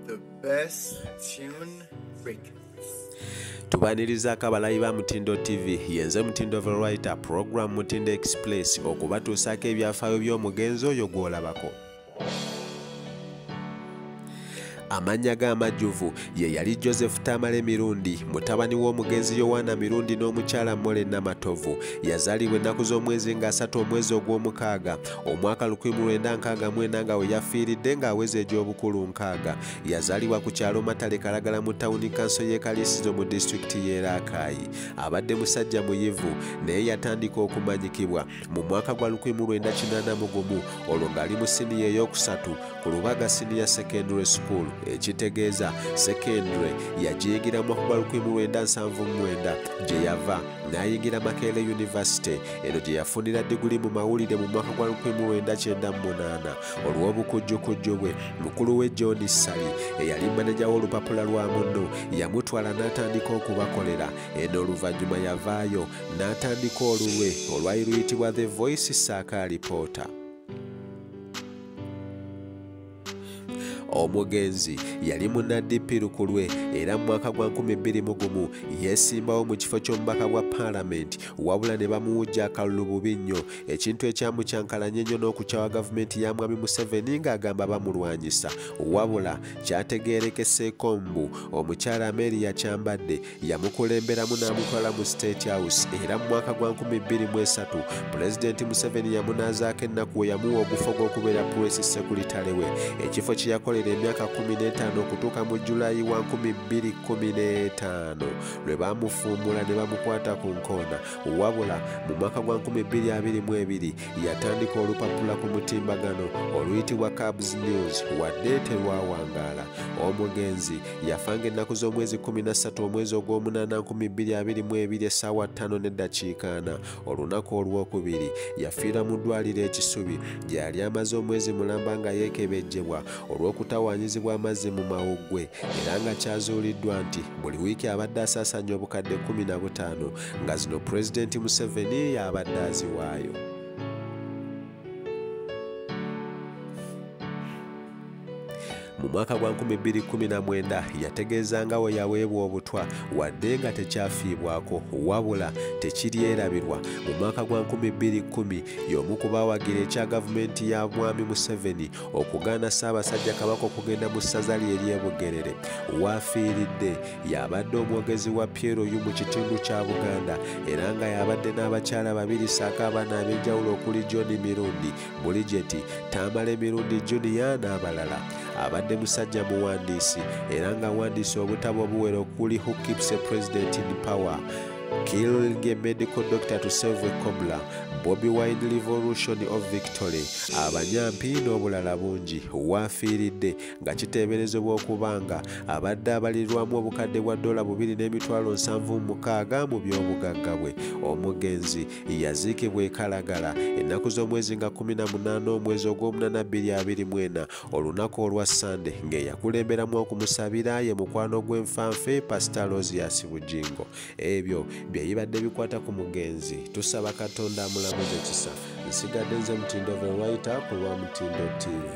The best tune break. tubanirizaako abalayi ba mutindo tv yenze mutindo verwriter program mutindo express okubatuusaako ebyafaayo by'omugenzi oyo gw'olabako amannya ge amajjuvu ye yali joseph tamale mirundi mutabani w'omugenzi yowaana mirundi n'omukyala mole namatovu yazaalibwa ennaku z'omwezi nga asatu omwezi ogw'omukaaga omwaka 1964 nga we yafiiridde ng'aweza egy'obukulu nkaaga yazaalibwa ku kyalo matale kalagala mu tawuni kanso y'e kaliisizo mu disitulikiti y'e raakaayi abadde musajja muyivu naye yatandika okumanyikibwa mu mwaka gwa 1981 olwo ng'ali mu siniya ey'okusatu ku lubaga siniya secondary school ekitegeeza secondary yagiyigiramu okuba 1979 gye yava n'ayingira Makerere University eno gye yafunira diguli mu mawulire mu mwaka gwa 1998 olw'obukujjukujju bwe mukulu we John Ssali eyali maneja w'olupapula lwa munno yamutwala n'atandika okubakolera eno oluvannyuma yavaayo n'atandika olulwe olwali luyitibwa The Voice Saaka Alipoota omugenzi yali munna dp lukulwe era mu mwaka gwa 21 yeesimbawo mu kifo ky'omubaka bwa paalamenti wabula ne bamuwujja akalulu bubi nnyo ekintu ekyamukyankalanya ennyo n'okukyawa gavumenti ya mwami museveni ng'agamba bamulwanyisa wabula kyategeerekeseeko mbu omukyala ameeri yakyambadde yamukulemberamu n'amutwala mu state house era mu mwaka gwa 2023 pulezidenti museveni yamunaazaako ennaku we yamuwa ogufo gw'okubeera pulesi sekulitale we ekifo kye yakolera emyaka 15 okutuuka mu julayi wa 2015 lwe baamufuumula ne bamukwata ku nkoona wabula mu mwaka gwa 2022 yatandika olupapula ku mutimbagano oluyitibwa cabs news wadde terwawangaala omugenzi yafanga ennaku z'omwezi 13 omwezi ogw'omunaana 2022 essaawa 5 n'eddakiika ana olunaku olw'okubiri yafiira mu ddwaliro ekisubi gye yali amaze omwezi mulamba nga yeekebejjebwa olw'okutawaanyizibwa amazzi mu mawuggwe era nga kyazuuliddwa nti buli wiiki abadde asaasaanya obukadde 15 nga zino pulezidenti museveni y'abadde aziwaayo mu mwaka gwa 2019 yategeeza nga we yaweebwa obutwa wadde nga tekyafiibwako wabula tekiryerabirwa mu mwaka gwa 2010 y'omu ku bawagira ekya gavumenti ya mwami museveni okugaana ssaabasajja kabaka okugenda mu ssaza lye eryebugerere waafiiridde yabadde omwogezi wa pieroyu mu kitundu kya buganda era nga yabadde n'abakyala babiri saako abaana ab'enjawulo okuli john mirundi Bulijeti, Tamale Mirundi Junior n'abalala. Abadde musajja muwandiisi era ng'awandiise obutabo obuwera okuli Who Keeps a President in Power, Killing a Medical Doctor to Save a Cobbler, Bobi Wine Revolution of Victory, abanyampi n'obulala bungi waafiiridde nga kiteeberezebwa okuba nga abadde abalirwamu obukadde bwa ddoola bubiri n'emitwalo nsanvu mukaaga mu by'obugagga bwe omugenzi yaziikibwa e Kalagala ennaku z'omwezi nga 18 omwezi ogw'omunana 224 olunaku olwa Ssande ng'eyakulemberamu okumusabira ye mukwano gw'enfanfe Pasita Lozias Bugingo ebyo bye bibadde bikwata ku mugenzi tusaba Katonda amulamuze ekisa nsigadde nze mutindo verwaita ku lwa mutindo TV